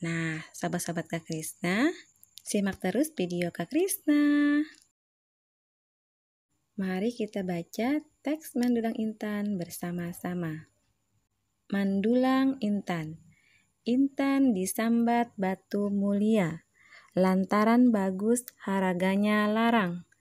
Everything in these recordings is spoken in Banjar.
Nah, sahabat-sahabat Kak Krisna, simak terus video Kak Krisna. Mari kita baca teks Mandulang Intan bersama-sama. Mandulang Intan Intan disambat batu mulia, lantaran bagus haraganya larang.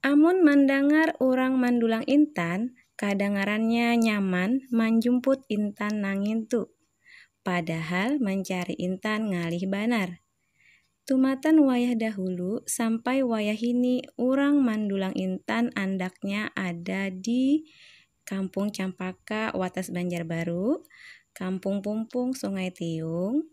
Amun mandangar urang mandulang intan, kadangarannya nyaman manjumput intan nangin tu. Padahal mancari intan ngalih banar. Tumatan wayah dahulu sampai wayahini urang mandulang intan andaknya ada di Kampung Campaka Watas Banjarbaru, Kampung Pumpung Sungai Tiung,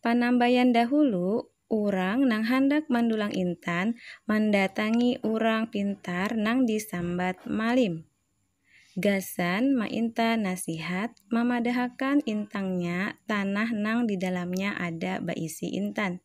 Panambayan dahulu, urang nang handak mandulang intan mandatangi urang pintar nang disambat malim. Gasan mainta nasihat, mamadahakan intangnya tanah nang di dalamnya ada baisi intan.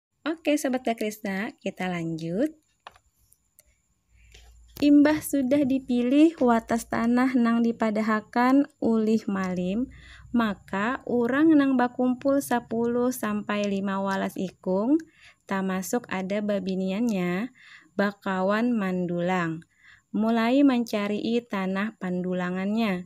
Oke Sobat Kakrisna, kita lanjut. Imbah sudah dipilih watas tanah nang dipadahakan ulih malim, maka urang nang bakumpul 10 sampai 15 ikung, tamasuk ada babiniannya, bakawan mandulang. Mulai mancarii tanah pandulangannya.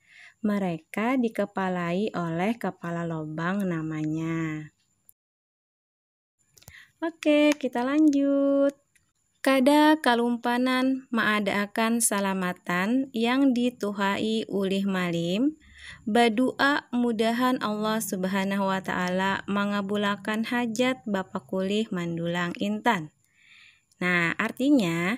Mereka dikepalai oleh kepala lobang namanya. Oke, kita lanjut. Kada kalumpanan maadaakan salamatan yang dituhai ulih malim, badu'a mudahan Allah Subhanahu wa Ta'ala mangabulakan hajat bapakulih mandulang intan. Nah, artinya,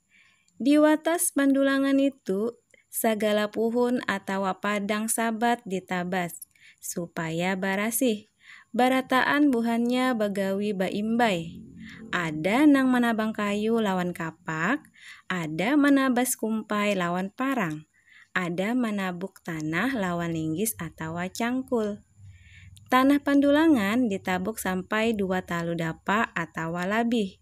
Di watas bandulangan nitu, sagala puhun atawa padang sabat ditabas, supaya barasih. Barataan buhannya bagawi baimbai. Ada nang manabang kayu lawan kapak, ada manabas kumpai lawan parang, ada manabuk tanah lawan linggis atawa cangkul. Tanah pandulangan ditabuk sampai dua talu dapa atawa labih.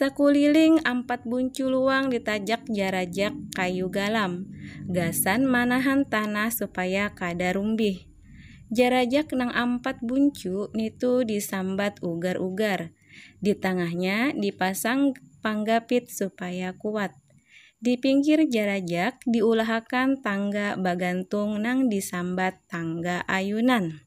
Sakuliling ampat buncu luang ditajak jarajak kayu galam gasan manahan tanah supaya kada rumbih. Jarajak nang ampat buncu nitu disambat ugar-ugar. Di tangahnya dipasang panggapit supaya kuat. Di pinggir jarajak diulahakan tangga bagantung nang disambat tangga ayunan.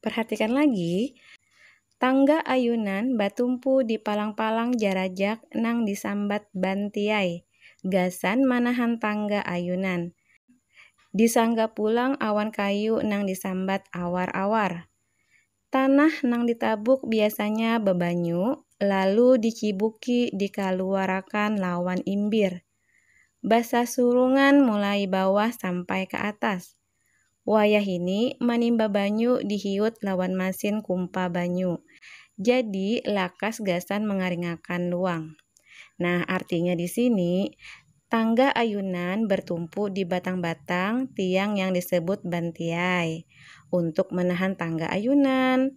Perhatikan lagi, Tangga ayunan batumpu di palang-palang jarajak nang disambat bantiai gasan manahan tangga ayunan. Disangga pulang awan kayu nang disambat awar-awar. Tanah nang ditabuk biasanya babanyu lalu dicibuki dikaluarakan lawan imbir, basasurungan mulai bawah sampai ka atas. Wayahini manimba banyu dihiut lawan masin kumpa banyu. Jadi lakas gasan mangaringakan luang. Nah artinya di sini, tangga ayunan bertumpu di batang-batang tiang yang disebut bantiai untuk menahan tangga ayunan.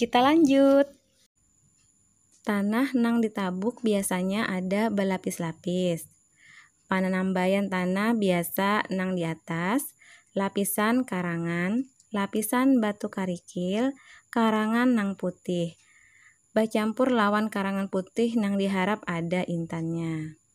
Kita lanjut. Tanah nang ditabuk biasanya ada balapis-lapis. Pananambaian tanah biasa nang di atas, lapisan karangan, lapisan batu karikil, karangan nang putih, bacampur lawan karangan putih nang diharap ada intannya.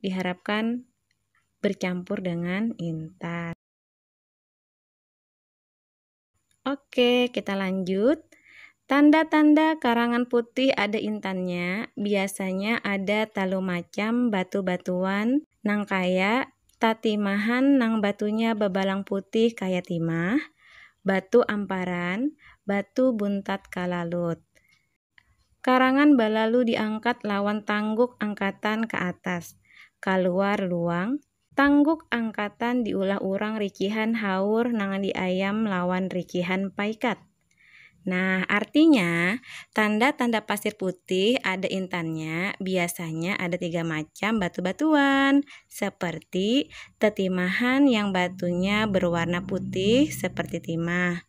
diharapkan bercampur dengan intan. Oke, kita lanjut. Tanda-tanda karangan putih ada intannya biasanya ada talu macam batu-batuan nang kaya tatimahan nang batunya babalang putih kaya timah, batu amparan, batu buntat kalalut. Karangan balalu diangkat lawan tangguk angkatan ka atas, kaluar luang, tangguk angkatan diulah urang rikihan haur nang diayam lawan rikihan paikat. Nah, artinya, tanda-tanda pasir putih ada intannya biasanya ada tiga macam batu-batuan, seperti tetimahan yang batunya berwarna putih seperti timah,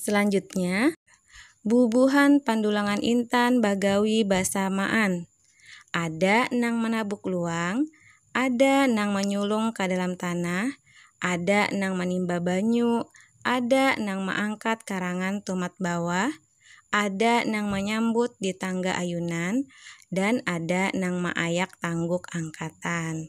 Selanjutnya, bubuhan pandulangan intan bagawi basamaan. Ada nang manabuk luang, ada nang manyulung ka dalam tanah, ada nang manimba banyu, ada nang maangkat karangan tumat bawah, ada nang manyambut di tangga ayunan, dan ada nang maayak tangguk angkatan.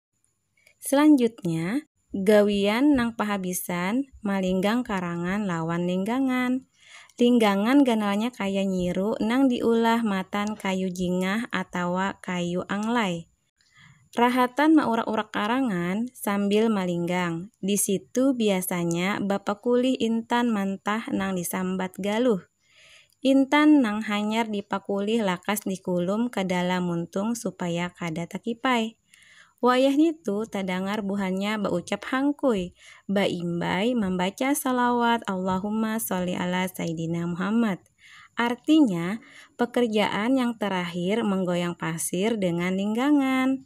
Selanjutnya, gawian nang pahabisan malinggang karangan lawan linggangan. Linggangan ganalnya kaya nyiru nang diulah matan kayu jingah atawa kayu anglai. Rahatan maurak-urak karangan sambil malinggang, di situ biasanya bapakulih intan mantah nang disambat galuh. Intan nang hanyar dipakulih lakas dikulum ka dalam muntung supaya kada takipai. Wayah nitu tadangar buhannya baucap hangkui, baimbai mambaca shalawat Allahumma sholli ala saidina Muhammad. Artinya, pekerjaan yang terakhir menggoyang pasir dengan linggangan.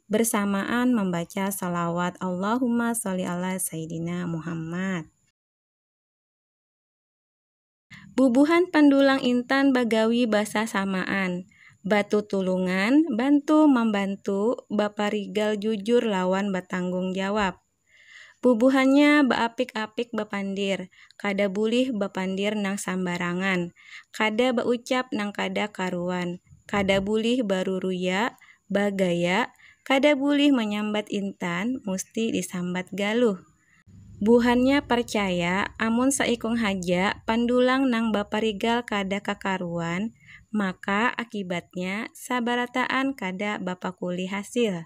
bersamaan membaca salawat Allahumma sholli ala sayyidina Muhammad. Bubuhan pandulang intan bagawi basasamaan, batutulungan, bantu mambantu, baparigal jujur lawan batanggung jawab. Bubuhannya baapik-apik bapandir, kada bulih bapandir nang sambarangan, kada baucap nang kada karuan, kada bulih baruruya, bagaya, kada bulih manyambat intan, musti disambat galuh. Buhannya parcaya amun saikung haja pandulang nang baparigal kada kakaruan, maka akibatnya sabarataan kada bapakulih hasil.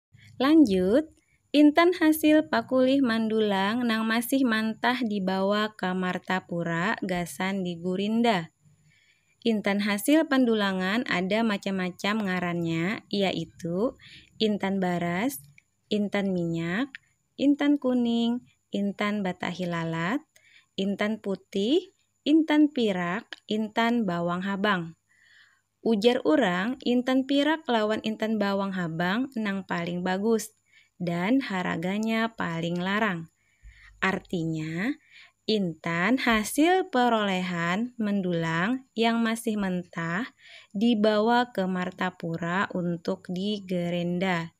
Lanjut, Intan hasil pakulih mandulang nang masih mantah dibawa ka Martapura gasan digurinda. Intan hasil pandulangan ada macam-macam ngarannya yaitu intan baras, intan minyak, intan kuning, intan batahi lalat, intan putih, intan pirak, intan bawang habang. Ujar urang, intan pirak lawan intan bawang habang nang paling bagus dan haraganya paling larang. Artinya, intan hasil perolehan mendulang yang masih mentah dibawa ke Martapura untuk digerenda.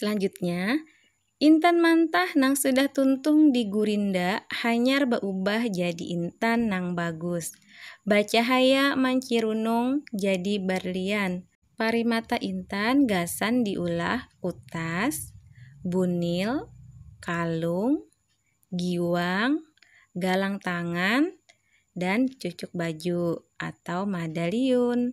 Selanjutnya, intan mantah nang sudah tuntung di gurinda hanyar baubah jadi intan nang bagus, bacahaya mancirunung jadi barlian. Parimata intan gasan diulah kutas, bunil, kalung, giwang, galang tangan, dan cucuk baju atau madaliun.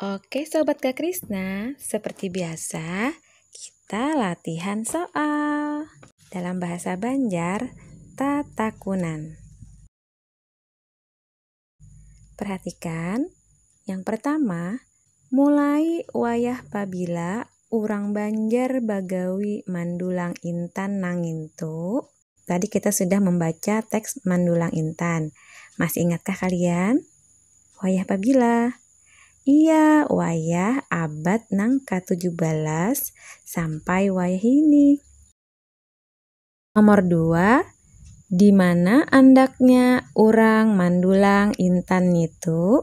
Oke Sobat Kak Krisna, seperti biasa kita latihan soal dalam bahasa Banjar tatakunan. Perhatikan, yang pertama, mulai wayah pabila urang Banjar bagawi mandulang intan nangintu, Tadi kita sudah membaca teks Mandulang Intan. Masih ingatkah kalian? Wayah pabila? Iya, wayah abad nang ke-17 sampai wayah ini. Nomor dua, di mana andaknya urang mandulang intan nitu?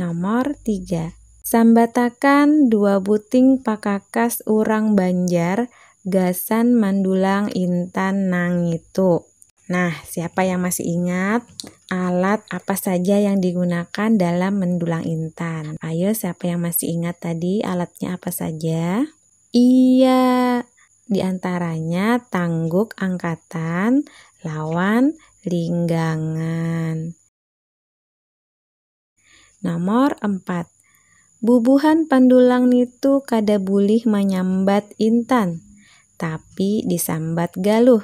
Nomor tiga. Sambatakan dua buting pakakas urang Banjar gasan mandulang intan nangitu. Nah, siapa yang masih ingat alat apa saja yang digunakan dalam mendulang intan? Ayo, siapa yang masih ingat tadi alatnya apa saja? Iya, di antaranya tangguk angkatan lawan linggangan. Nomor empat, bubuhan pandulang nitu kada bulih manyambat intan, tapi disambat galuh.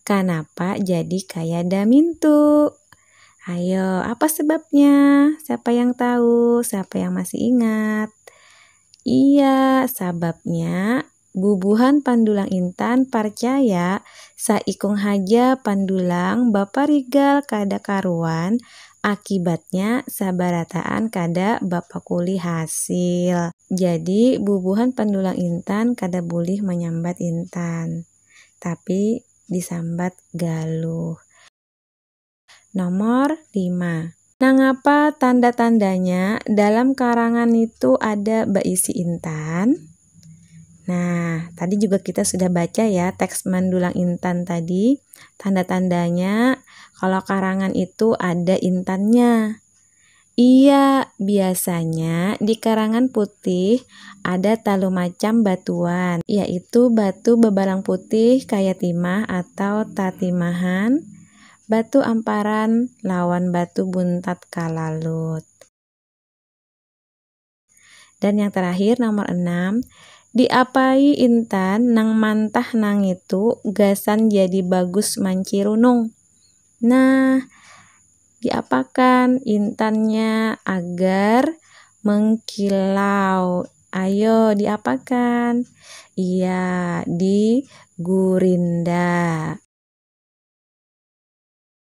Kanapa jadi kayada mintu? Ayo, apa sebabnya? Siapa yang tahu? Siapa yang masih ingat? Iya, sababnya Bubuhan pandulang intan parcaya saikung haja pandulang baparigal kada karuan, akibatnya sabarataan kada bapakuli hasil. Jadi bubuhan pandulang intan kada bulih manyambat intan, tapi disambat galuh. Nomor lima. Nangapa tanda-tandanya dalam karangan itu ada baisi intan? Nah, tadi juga kita sudah baca ya teks mandulang intan tadi. Tanda-tandanya kalau karangan itu ada intannya. Iya, biasanya di Karangan Putih ada talu macam batuan, yaitu batu babarang putih kaya timah atau tatimahan, batu amparan, lawan batu buntat kalalut. Dan yang terakhir nomor 6, diapai intan nang mantah nangitu gasan jadi bagus mancirunung. Nah, diapakan intannya agar mengkilau. Ayo diapakan? Iya, di gurinda.